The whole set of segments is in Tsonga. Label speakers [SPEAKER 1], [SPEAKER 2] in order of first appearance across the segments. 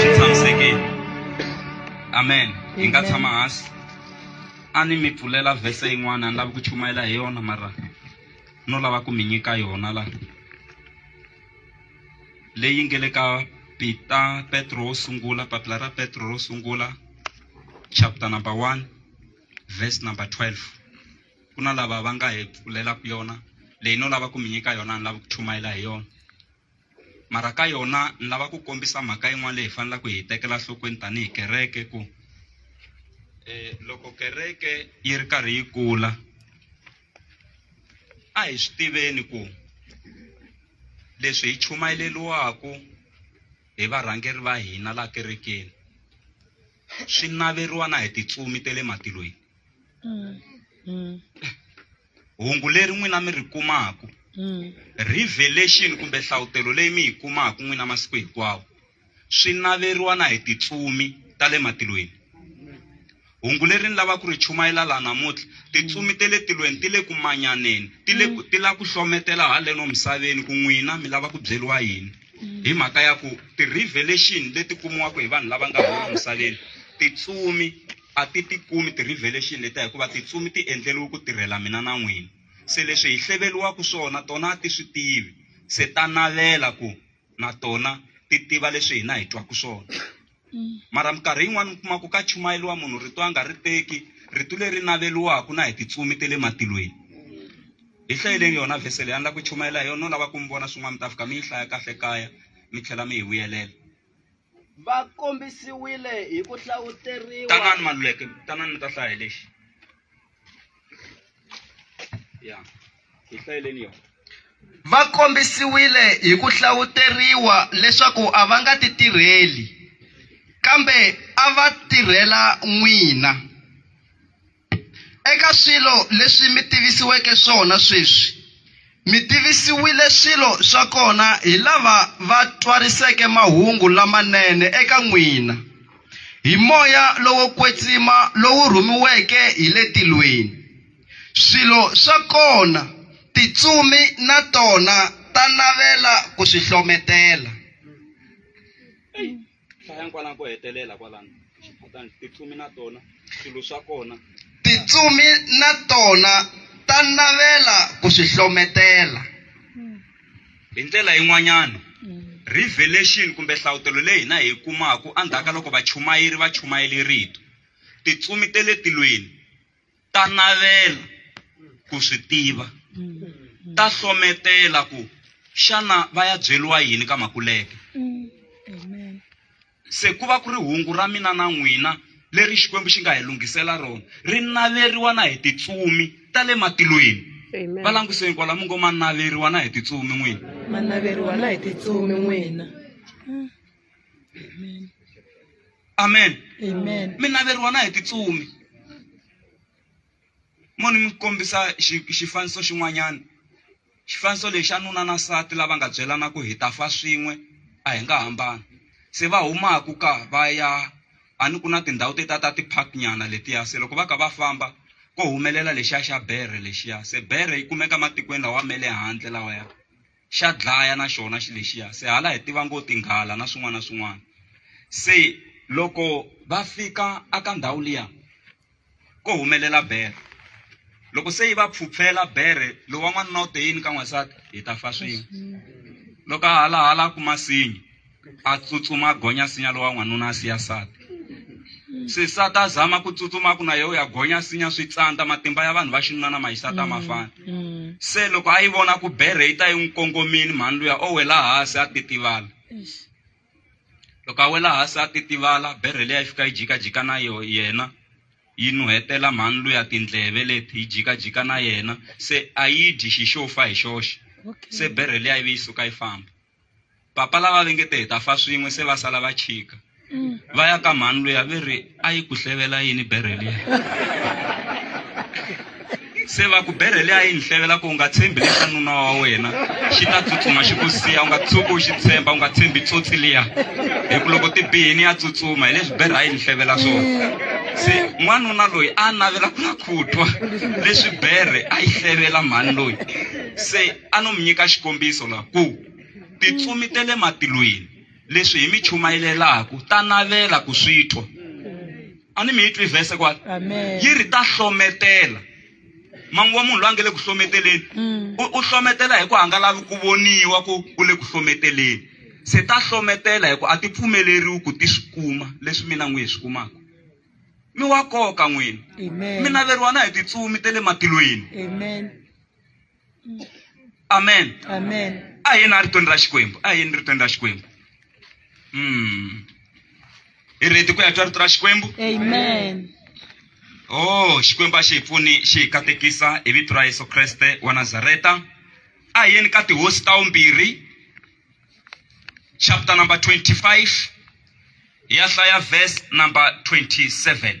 [SPEAKER 1] swi tshamisekile amen hi nga tshama hansi a ni mi pfulela vhese yin'wana a ni lavi ku chumayela hi yona mara no lava ku mi nyika yona la leyi nge le ka pita petro wo sungula papila ra petro ro sungula chapter number one verse number 12 ku na lava va nga hi pfulelaka yona leyi no lava ku mi nyika yona ni lava ku chumayela hi yona mara ka yona ni lava ku kombisa mhaka yin'wana leyi hi faneleke hi yi tekela nhlokweni tanihi kereke ku um loko kereke yi ri karhi yi kula a hi swi tiveni ku leswi hi chumayeleliwaku hi varhangeri va hina laha kerekeni swi naveriwa na hi titsumi ta le matilweni Mm. Mm. hungu leri n'wina mi ri kumaku Mm. revelation kumbe hlavutelo leyi mi yi kumaku n'wina masiku hinkwawo swi naveriwa na hi titsumi ta le matilweni hungu leri ni lava ku ri chumayela laha namuntlha titsumi te le tilweni ti le ku manyaneni ti le ku- ti la ku hlometela haleno misaveni ku n'wina mi lava ku byeriwa yini hi mhaka ya ku ti-revelation leti kumiwaka hi vanhu lava nga holo misaveni titsumi A ti tikumi ti revelation leta hikuva titsumi ti endleriwe ku tirhela mina na n'wina. Se leswi hi hleveriwaka swona tona a ti swi tivi, se ta navela ku na tona ti tiva leswi hina hi twaka swona. Mara minkarhi yin'wana mi kuma ku ka chumayeriwa munhu rito a nga ri teki, rito leri naveriwaka na hi titsumi ta le matilweni. Hi hlayeleni yona verse leyi a ni lava ku chumayela hi yona, no lava ku mi vona swin'wana mi ta fika mi yi hlaya kahle kaya mi tlhela mi hi vuyelela. va
[SPEAKER 2] kombisiwile hi ku hlavuteriwa tanani maluleke
[SPEAKER 1] tanani mi ta hlaya hi lexi ya hi hlayeleni yona va
[SPEAKER 2] kombisiwile hi ku hlavuteriwa leswaku a va nga ti tirheli kambe a va tirhela n'wina Eka swilo leswi mi tivisiweke swona sweswi, mi tivisiwile swilo swa kona hi lava va twariseke mahungu lamanene eka n'wina hi moya lowo kwetsima lowu rhumiweke hi le tilweni. Swilo swa kona tintsumi na tona ta navela ku swi hlometela.
[SPEAKER 1] hlayani kwalano ko hetelela kwalano xiphatani titsumi na tona swilo swa kona titsumi
[SPEAKER 2] na tona ta navela ku swi hlometela
[SPEAKER 1] hi ndlela yin'wanyana revelation kumbe hlavutelo leyi hina hi yi kumaku endzhaku ka loko vachumayeri va chumayele rito titsumi te le tilweni ta navela ku swi tiva ta hlometela ku xana va ya byeriwa yini ka makuleke se ku va ku ri hungu ra mina na n'wina leri xikwembu xi nga hi lunghisela rona ri naveriwa na hi titsumi ta le matilweni Amen. va languseni kwala mi ngo ma naveriwa na hi titsumi n'wina manaveriwa na
[SPEAKER 3] hi titsumi n'wina
[SPEAKER 1] amen Amen.
[SPEAKER 3] mi naveriwa na hi
[SPEAKER 1] titsumi mo ni mi kombisa xi- xifaniso xin'wanyana xifaniso lexi a nuna na nsati lava nga byelana ku hi ta fa swin'we a hi nga hambani se va humaku ka va ya a ni ku na tindhawu teta ta ti-park nyana letiya se loko va ka va famba ko humelela lexiya xa bere lexiya se bere yi kumeka matikweni lawa ma le handle lawaya xa dlaya na xona xi lexiya se hala hi tiva ngo tinghala na swin'wana na swin'wana se loko va fika aka ndhawu liya ko humelela bere loko se yi va pfhupfela bere lowa n'wanuna u te yini ka n'wansati hi ta fa swin'we loko a halahala ku masinyi a tsutsuma a gonya sinya lowa n'wanuna a siya sati sisati a zama ku tsutsuma ku na yewu ya gonya sinya swi tsandza matimba ya vanhu va xinuna na mahisati a ma mm, fani mm. se loko a yi vona ku berhe yi ta yi n'wi kongomini mhani luya o wela hansi a titivala loko a wela hansi a titivala berhe leyi a yi fika yi jikajika na yo yena yi nuhetela mhani luya tindleve leti yi jikajika na yena se a yi dyi xi xo fa hi xoxe se berhe leyi a yi ve yi suka yi famba papa lava ve nge te hi ta fa swin'we se va sala va chika mm. va ya ka mhani loyi a ve ri a yi ku hlevela yini berhe liya se va ku berhe liya yi ni hlevela ku u nga tshembi lesa nuna wa wena xi ta tsutsuma xi ku siya u nga tshuki u xi tshemba u nga tshembi tsotsi liya hi ku loko ti bihini ya tsutsuma hi leswi berhe a yi ni hlevela swona se n'wanuna loyi a navela ku na khutwa leswi berhe a yi hlevela mhani loyi se a no mi nyika xikombiso la ku tintsumi ta le matilweni leswi hi mi chumayelelaku ta navela ku swi twa a ni mi yi twi vhese kwala yi ri ta hlometela manguva munhu loyi a nga le ku hlometeleni mm. u hlometela hi ku a nga lavi ku voniwa ku u le ku hlometeleni se ta hlometela hi ku a ti pfumeleriwi ku ti swi kuma leswi mina n'wi hi swi kumaka mi wa koka n'wini mi naveriwa na hi
[SPEAKER 3] titsumi
[SPEAKER 1] ta le matilweni amen Amen. a hi
[SPEAKER 3] na ritweni ra
[SPEAKER 1] xikwembu a hi ni ritweni ra xikwembu mm. hi reti ku ya twa rito ra xikwembu Amen.
[SPEAKER 3] oh
[SPEAKER 1] xikwembu a xi hi pfuni xi hi katekisa hi vito ra yesu kreste wa nazareta a hi yeni ka tihosi ta vumbirhi chapter number 25 hi ya hlaya verse number 27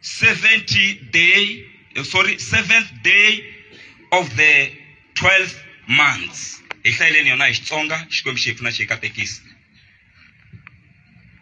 [SPEAKER 1] 70 day eh, sorry 7th day of the 12th months hi hlayeleni yona hi xitsonga xikwembu xi hi pfuna xi hi katekisa